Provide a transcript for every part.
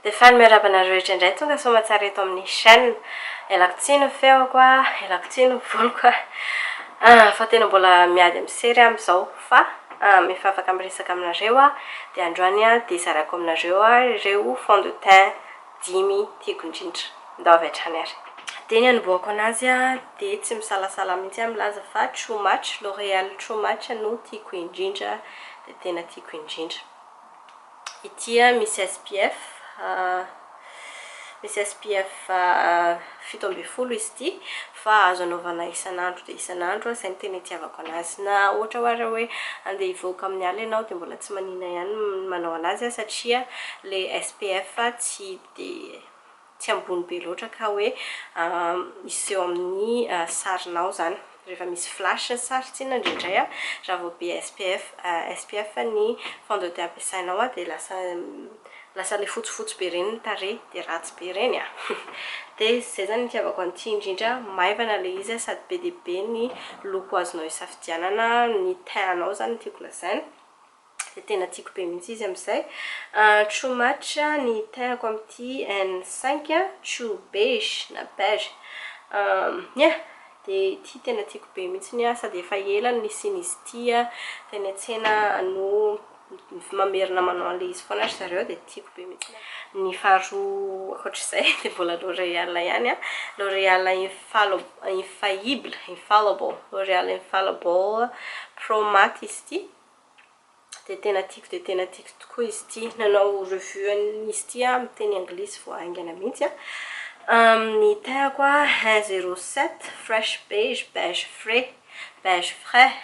Dia faly miarahaba anareo rehetra indray tonga soamatsara eto amin'ny chaîne. Ialako tsiny ny feoko a, ialako tsiny ny voloko a, ah fa tena mbola miady amin'ny sery aho amin'izao, fa am efa afaka miresaka aminareo aho, dia androany a dia zarako aminareo a ireo fond de teint dimy tiako indrindra, ndao avy hatrany ary. Dia ny anombohako anazy a dia tsy misalasala mihitsy aho milaza fa True Match, L'oréal True Match no tiako indrindra, dia tena tiako indrindra. Ity a misy SPF a misy SPF fito ambin'ny folo izy ity fa azo anaovana isan'andro dia isan'andro, izay no tena itiavako an'azy na ohatra hoe ary hoe andeha hivoaka amin'ny alina ianao dia mbola tsy manina ihany ny manao an'azy aho satria ilay SPF tsy dia tsy ambony be loatra ka hoe hiseho amin'ny sarinao izany rehefa misy flash ny sary tsinona indraindray an, raha vao be SPF SPF ny fond de teint ampiasainao an dia lasa lasa ilay fotsifotsy be ireny ny tarehy dia ratsy be ireny an! dia izay izany ny itiavako an'ity indrindra an, maivana ilay izy an, sady be dia be ny loko azonao isafidianana, ny teint anao izany no tiako lazaina. Tena tiako be mihitsy izy amin'izay. True match ny terako amin'ity en cinq, true beige na beige. Ny ahy dia ity tena tiako be mihitsy ny ahy sady efa ela no nisian'izy ity teny an-tsena no mamerina manao an'ilay izy foana ry zareo dia tiako be mihitsy ny ahy. Ny faharoa ankoatr'izay dia mbola L'oréal ihany, L'oréal infal- infaillible, infallible, L'oréal infallible pro matte izy ity. dia tena tiako dia tena tiako tokoa izy ity. Nanao revue an'izy ity aho amin'ny teny anglisy vao haingana mihitsy an! Ny tehako a, un zero sept, fresh beige, beige frais, beige frais.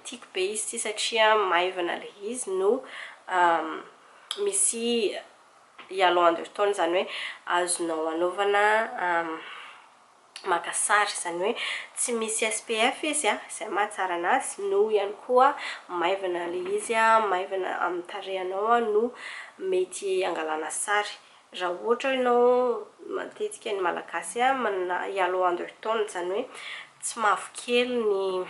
Tiako be izy ity satria maivana ilay izy no misy yellow undertone, izany hoe azonao anaovana maka sary, izany hoe tsy misy SPF izy a, izay mahatsara anazy, no ihany koa maivana ilay izy a, maivana amin'ny tarehinao a, no mety hangalana sary. Raha ohatra ianao, matetika ny Malagasy a, manana yellow undertone, izany hoe tsy mavokely ny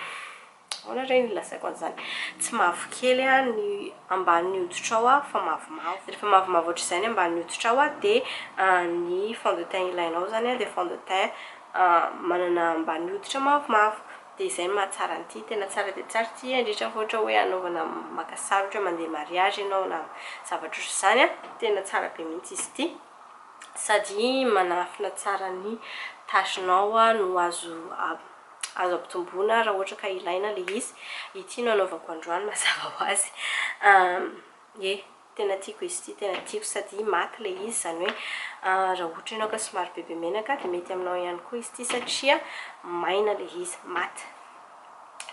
Ahoana re ny hilazaiko an'izany? Tsy mavokely aho ny ambanin'ny hoditrao aho fa mavomavo. Rehefa mavomavo ohatr'izay ny ambanin'ny hoditrao aho dia ny fond de teint ilainao izany dia fond de teint manana ambanin'ny hoditra mavomavo. Dia izay no mahatsara an'ity. Tena tsara dia tsara ity indrindra fa ohatra hoe hanaovana maka sary ohatra hoe mandeha mariazy ianao na zavatra ohatr'izany an, tena tsara be mihitsy izy ity. Sady manafina tsara ny tache-nao no azo Azo ampitomboina raha ohatra ka ilaina ilay izy. Ity no anaovako androany mazava ho azy. Ye, tena tiako izy ity, tena tiako sady maty ilay izy, izany hoe raha ohatra ianao ka somary bebe menaka dia mety aminao ihany koa izy ity satria maina ilay izy, maty.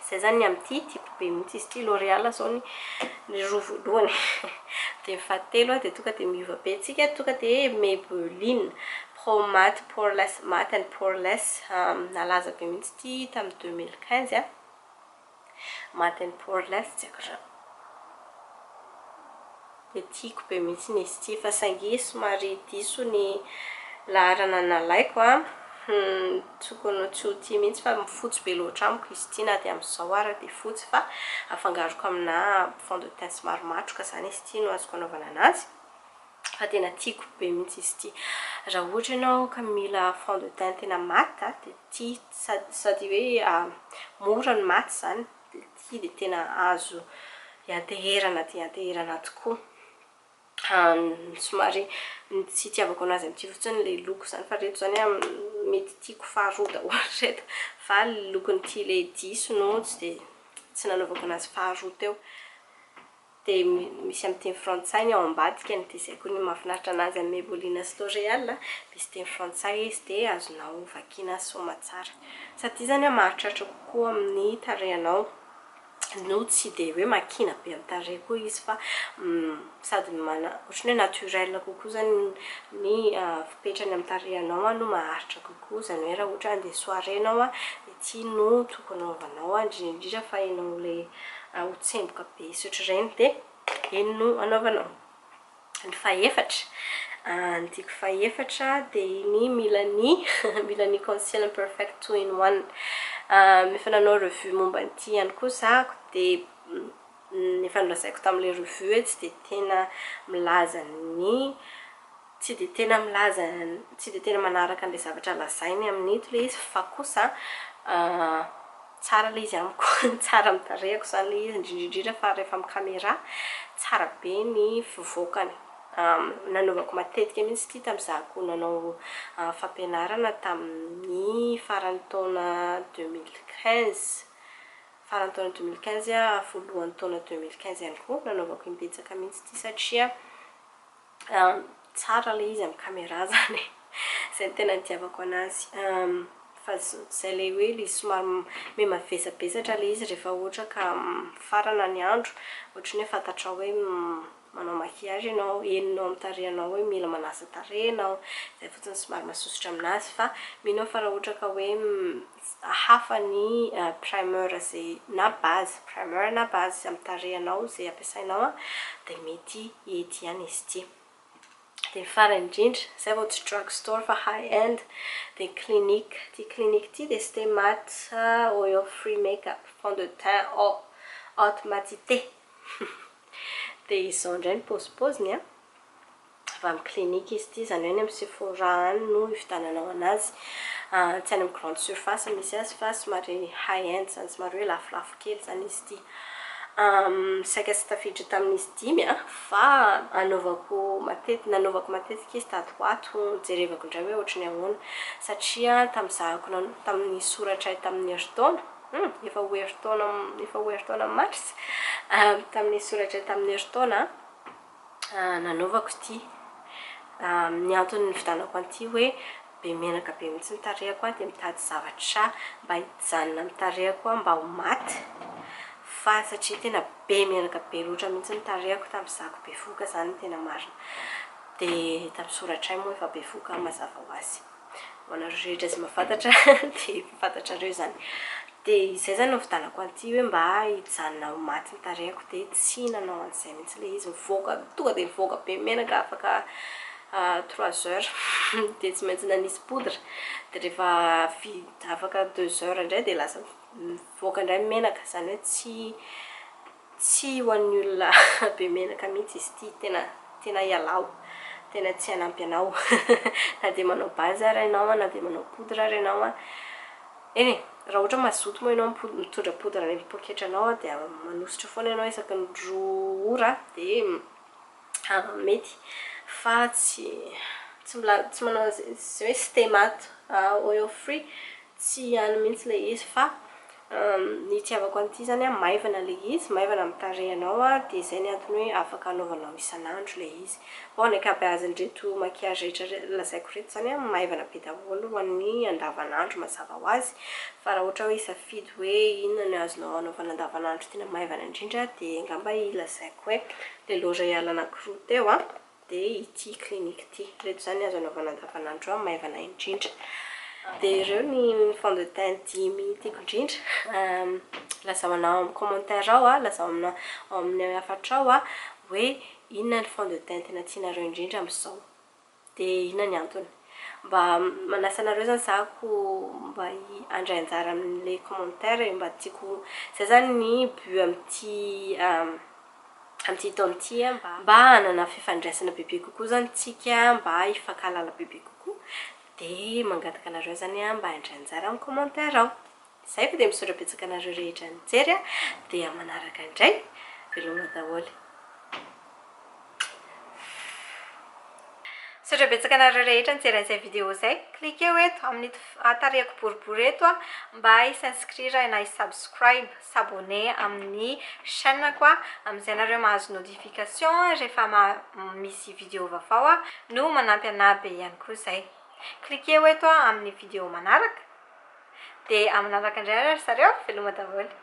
Izay izany ny amin'ity, tiako be mihitsy izy ity. L'oréal izao ny ny roa voalohany dia ny fahatelo dia tonga dia miova be antsika, tonga dia Maybelline. Home Math pour les Math and pour les Nalaza be mihitsy ity tamin'ny deux mille quinze a! Math and pour les tsy haiko izany. Dia tiako be mihitsy ny izy ity fa saingy somary diso ny laharana nalaiko a! Tokony ho tsy ho tia mihitsy fa fotsy be loatra amiko izy ity na dia amin'izao ara dia fotsy fa afangaroko aminà fond de teint somary matroka izany izy ity no azoko anaovana an'azy. Fa tena tiako be mintsy izy ity. Raha ohatra ianao ka mila fond de teint tena maty a, dia ity sady sady hoe mora ny maty izany, dia ity dia tena azo ianteherana dia ianteherana tokoa. Ny somary ny tsy itiavako an'azy amin'ity fotsiny ilay loko izany, fa ireto izany mety tiako faharoa daholo ireto, fa ny lokon'ity ilay diso no tsy dia tsy nanaovako an'azy faharoa teo. dia misy amin'ny teny frantsay ny ao ambadikany dia izay koa ny mahafinaritra anazy amin'ny Mebulina sy L'Oréal misy teny frantsay izy dia azonao vakiana soamatsara sady izany an mahatratra kokoa amin'ny tarehinao no tsy dia hoe makiana be amin'ny tarehy koa izy fa sady ohatran'ny hoe naturel kokoa izany ny fipetrany amin'ny tarehinao no maharitra kokoa izany hoe raha ohatra handeha soirée ianao an Ty no tokony anaovanao an, indrindra indrindra fa enao le ho tsemboka be sotr'ireny de iny no anaovanao. Ny fahefatra, ny tiko fahefatra de iny mila ny mila ny conceal and perfect two in one. Efa nanao revue momba an'ity ihany koa za de efa nolazaiko tamle revue tsy de tena milaza ny tsy dia tena milaza tsy dia tena manaraka an'ilay zavatra lazainy amin'ito ilay izy fa kosa tsara ilay izy amiko tsara amin'ny tarehiko izany ilay izy indrindra indrindra fa rehefa amin'ny camera tsara be ny fivoakany nanaovako matetika mihitsy ity tamizahako nanao fampianarana tamin'ny faran'ny taona deux mille quinze faran'ny taona deux mille quinze voalohan'ny taona deux mille quinze ihany koa nanaovako imbetsaka mihitsy ity satria Tsara ilay izy amin'ny camera izany e! Izay no tena nitiavako anazy. Fa izay ilay hoe ilay somary mimavesabesatra ilay izy rehefa ohatra ka mifarana ny andro, ohatra ny hoe fantatrao hoe manao maquillage ianao, henonao amin'ny tarehinao hoe mila manasa tarehy ianao, izay fotsiny somary masosotra aminazy fa mino aho fa raha ohatra ka hoe hafa ny primer ze na base primer na base ze am tarehinao ze ampiasainao a de mety ety ihany izy ity de ny farany indrindra zay vao tsy drug store fa high end de clinique ty clinique ty de ste mat oil free make up fond de teint eau haute matite de izao indray ny pôzipôziny a. avy amin'ny clinique izy ity, izany hoe any amin'ny Sephora any no hividiananao an'azy, tsy any amin'ny grande surface misy azy fa somary high end izany, somary hoe lafolafo kely izany izy ity. Saika tsy tafiditra tamin'izy dimy an, fa anaovako matetika, nanaovako matetika izy tato ho ato, jerevako indray hoe ohatry ny ahoana, satria tamin'ny nizahako na tamin'ny nisoratray tamin'ny herintaona, hum efa ho herintaona, efa ho herintaona mars, tamin'ny nisoratray tamin'ny herintaona an. nanaovako ity amin'ny antony nividianako an'ity hoe be menaka be mihitsy ny tarehiko aho dia mitady zavatra mba hijanona amin'ny tarehiko aho mba ho maty fa satria tena be menaka be loatra mihitsy ny tarehiko tamin'izako bevoka izany ny tena marina dia hita misoratra ay moa efa bevoka mazava ho azy ho anareo rehetra izay mahafantatra dia efa fantatrareo izany. Dia izay izany no nividianako an'ity hoe mba hijanona ho maty ny tarehiko dia tsy nanao an'izay mihitsy ilay izy, mivoaka, tonga dia mivoaka be menaka afaka trois heures dia tsy maintsy nanisy poudre, dia rehefa vita afaka deux heures indray dia lasa mivoaka indray ny menaka, izany hoe tsy Tsy ho an'ny olona be menaka mihitsy izy ity, tena tena ialao, tena tsy hanampy anao na dia manao base ary ianao na dia manao poudre ary ianao an, eny e! raha ohatra hoe mazoto moa ianao mitondra poudre any amin'ny poketranao dia manosotra foana ianao isaky ny roa ora dia mety fa tsy tsy mbola tsy manao izay hoe stemat oil free Tsy ihany mihitsy ilay izy fa ny itiavako an'ity izany an, maivana ilay izy, maivana amin'ny tarehinao an, dia izay ny antony hoe afaka anaovanao isan'andro ilay izy. Fa ny ankabeazin'ireto maquillage rehetra lazaiko ireto izany an, maivana be daholo ho an'ny andavan'andro mazava ho azy, fa raha ohatra hoe hisafidy hoe inona no azonao anaovana andavan'andro tena maivana indrindra dia angamba ilazaiko hoe ilay l'oréal anankiroa teo an, dia ity clinique ity, ireto izany azo anaovana andavanandro an, maivana indrindra, dia ireo ny fond de teint dimy tiako indrindra, lazao anah ao amin'ny commentaire ao an, lazao aminà ao amin'ny hafatrao an, hoe inona ny fond de teint tena tianareo indrindra amin'izao, dia inona ny antony, mba manasa anareo izany za ho mba handray anjara amin'ilay commentaire e, mba tiako, izay izany ny but amin'ity. Amin'ity taona ity, mba hanana fifandraisana bebe kokoa izany isika, mba hifankahalala bebe kokoa, dia mangataka anareo izany mba handray anjara amin'ny commentaire ao. Izay fa dia misaotra betsaka anareo rehetra nijery, dia manaraka indray. Veloma daholo. Misaotra betsaka anareo rehetra nijery an'izay vidéo izay. Cliqueo eto amin'ito tarehiko boribory eto mba hi s'inscrire na hi subscribe, s'abonner, amin'ny chaîne-ko amin'izay nareo mahazo notification rehefa misy vidéo vaovao no manampy anah be ihany koa izay. Cliqueo eto amin'ny vidéo manaraka dia manaraka indray ary zareo. Veloma daholo.